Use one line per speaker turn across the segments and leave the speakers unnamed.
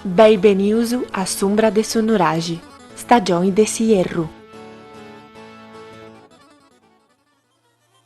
Beni benius a s'umbra de su nuraxi, stagioni de s'ierru.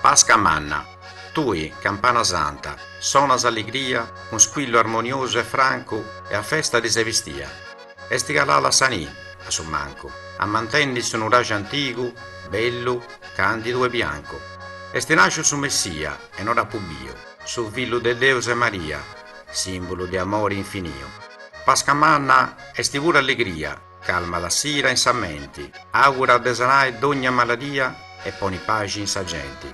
Pasca manna, tui, campana santa, sonas alligria cun squillu armoniosu e francu e a festa ti ses bistia. Est calada sa ni, a su mancu, ammantendi su nuraxi antigu, bellu, candidu e biancu. Est nasciu su Messia e no dd'apu biu, su fillu de Deus e Maria, simbulu de amori infiniu. Pasca manna est puru alligria. Calmat s'ira in sa menti, augurat de sanai dogna maladia e ponit paxi in sa genti.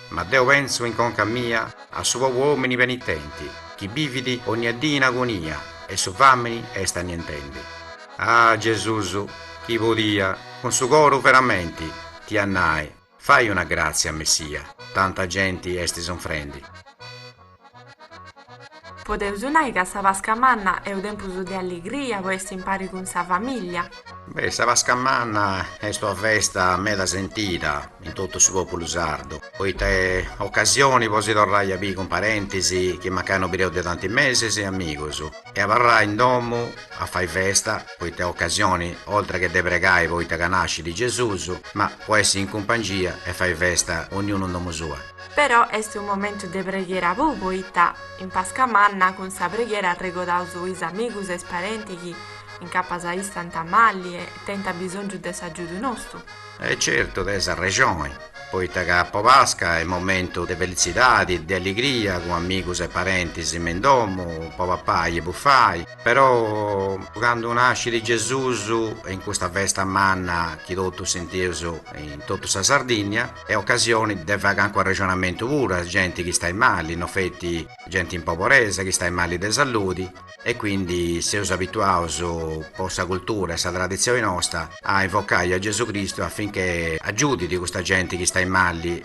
Ma deu pentzu in conca mia a su pobu omini penitenti chi bivit onnia dì in agonia e su famini est annientendi. Ah Gesusu chi podia cun su coru veramenti t'ia a nai. Fai una gràtzia, Messia, tanta genti est
sunfrendi. Podeus nai ca sa Pasca Manna est tempus de alligria po essi impari cun sa famìllia? Beh, sa Pasca
Manna est una festa meda sentida in totu su pòpulu sardu, poita est ocasioni po si torrai a biri cun parentis chi mancai no bideus de tanti mesis e amigus e abarrai in domu a fai festa. poita est ocasioni oltre che de pregai poita ca nascit Gesusu, ma po essi in cumpangia e fai festa ognunu in domu sua. Però est unu
momentu de preghiera puru poita in Pasca Manna cun sa preghiera arregodaus is amigus e is parentis chi incapas istant mali e tenint abisongiu de s'agiudu nostu. E
certu tens arrexoni, poita ca po Pasca est momentu de felitzidadi, de alligria cun amigus e parentis me in domu po papai e bufai. Però candu nascit Gesùs in custa festa manna chi totus sentius in totu sa Sardìnnia est ocasioni de fai cancu arrexonamentu puru a genti chi istait mali, no feti genti in pobresa chi istait mali de salludi e quindi seus abituaus po sa cultura e sa traditzioni nosta a invocai a Gesù Cristu affinchè agiudit custa genti chi istait mali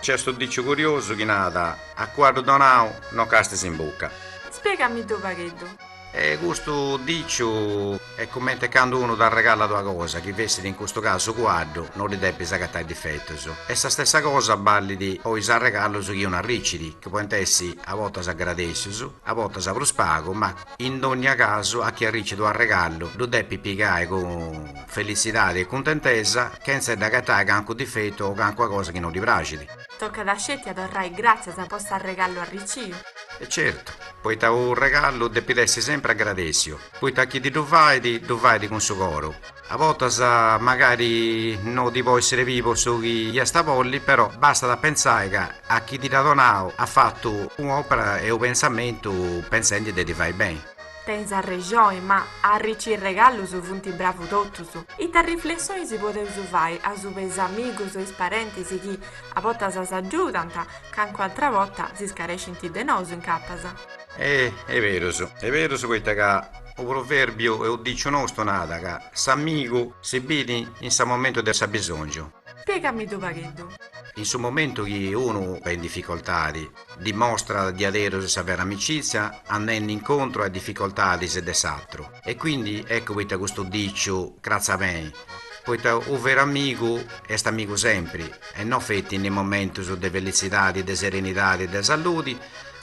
Nc'est
unu diciu curiosu chi narat, A cuaddu donau no castis
in
bucca. Spiegamiddu fagheddu. E custu diciu est cumenti e candu unu t'arregalat una cosa, chi fessit in custu casu cuaddu, no ddi depis agatai difetus. E sa stessa cosa ballit po is arregallus chi unu arricit, chi podint essi a bortas agradèssius, a bortas prus pagu, ma, In dogna casu a chi arricit unu arregallu ddu depit pigai cun felitzidadi e cuntentesa, chentza dd'agatai cancu difetu o cancua cosa chi no ddi praxit. Tocat sceti
a torrai gràtzias po s'arregallu arriciu. E
certu, poita unu regallu depit essi sempri agradèssiu, poita a chi ti ddu fait ddu fait cun su coru. A bortas magari no ti po essere pibo su chi iast a bolli, però bastat a pensai ca a chi ti dd'at donau at fatu un'opera e u pensamentu pensendi de ti fai beni. Tenis arrexoni,
ma a arrici is regallus funt bravus totus. Ita riflessionis podeus fai asuba 'e is amigus o is parentis chi a bortas s'agiudant, cancun'atra borta s'iscarescint de nosu incapas? E'
berus, e' berus poita ca U provèrbiu e u diciu nostu nada ca s'amigu si bidi in sa momentu de s'abisòngiu. Spiegamiddu
u pagheddu. In su momentu
chi unu est in dificoltadi, dimostrat diaderus sa vera amicizia andendi incontru a is dificoltadis de s'atru. E quindi eccu poita custu diciu cratzat beni, poita u veru amigu est amigu sempri e no feti in is momentus de felitzidadi, de serenidadi e de salludi,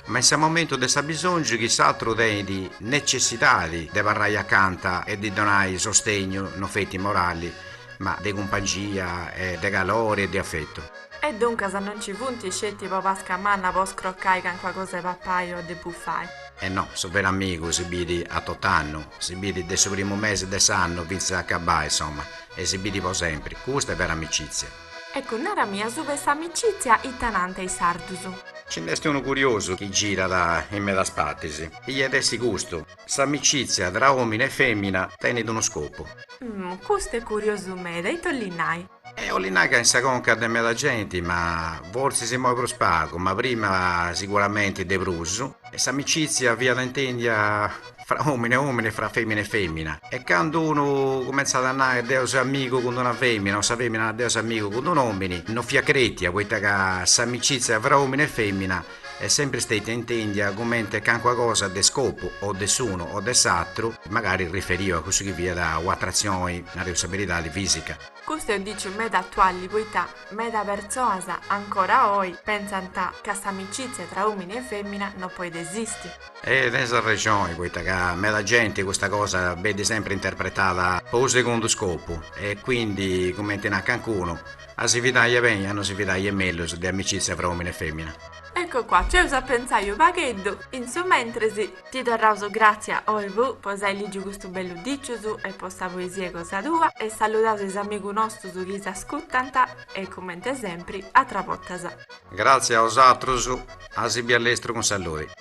Ma in sa momentu de s'abisòngiu chi s'atru tenit necessidadi de abarrai acanta e ddi donai sostegnu no feti morali, ma de cumpangia e de calori e de afetu. E duncas no
nci funti sceti po pasca manna po scrocai cancuna cosa de papai o de bufai. E no, su
veru amigu si bidi a tot'annu, si bidi de su primu mesi de s'annu fintzas a acabai, insoma, e si bidi po sempri, custa è vera amicizia. Eccu,
narami asuba 'e s'amicizia ita nanta is sardus. Ci nd'est
unu curiosu chi girat in medas partis, iat essi custu, s'amicizia tra omini e femina tenit unu scopu. Umm,
custu est curiosu meda, ita 'olli nai? E 'olli nai ca
in sa conca de meda genti, ma forsis immoi prus pagu, ma prima siguramenti de prus, s'amicizia fiat intendia fra omini e omini e fra femina e femina e candu unu cumentzat a nai deu seu amigu cun d'una femina o sa femina nai deu seu amigu cun d'un omini no fiat cretia poita ca s'amicizia fra omini e femina est sempri stetia intendia cumenti cancuna cosa de scopu o de s'unu o de s'atru magari riferiu a cussu chi fiat u atratzioni nareus sa beridadi fisica. Custu est u
diciu meda atuali poita meda pertzoas ancora oi pentzant ca s'amicizia tra omini e femina no poit esisti. E
tenis arrexoni poita ca meda genti custa cosa benit sempri interpretada po unu segundu scopu e quindi cumenti nat cancunu, a si fidai est beni a no si fidai est mellus de amicizia fra omini e femina. Ecco qua, nc'eus
a pentzai u pagheddu in su mentres. Ti torraus gratzia Olvu po s'ai ligiu custus bellus dicius e po sa poesia cosa tua e saludaus is amigus nostus chi s'ascutant e cumenti sempri
a
atras bortas.
Gratzia a
osatrus,
a
si
bi a lestru cun
salludi.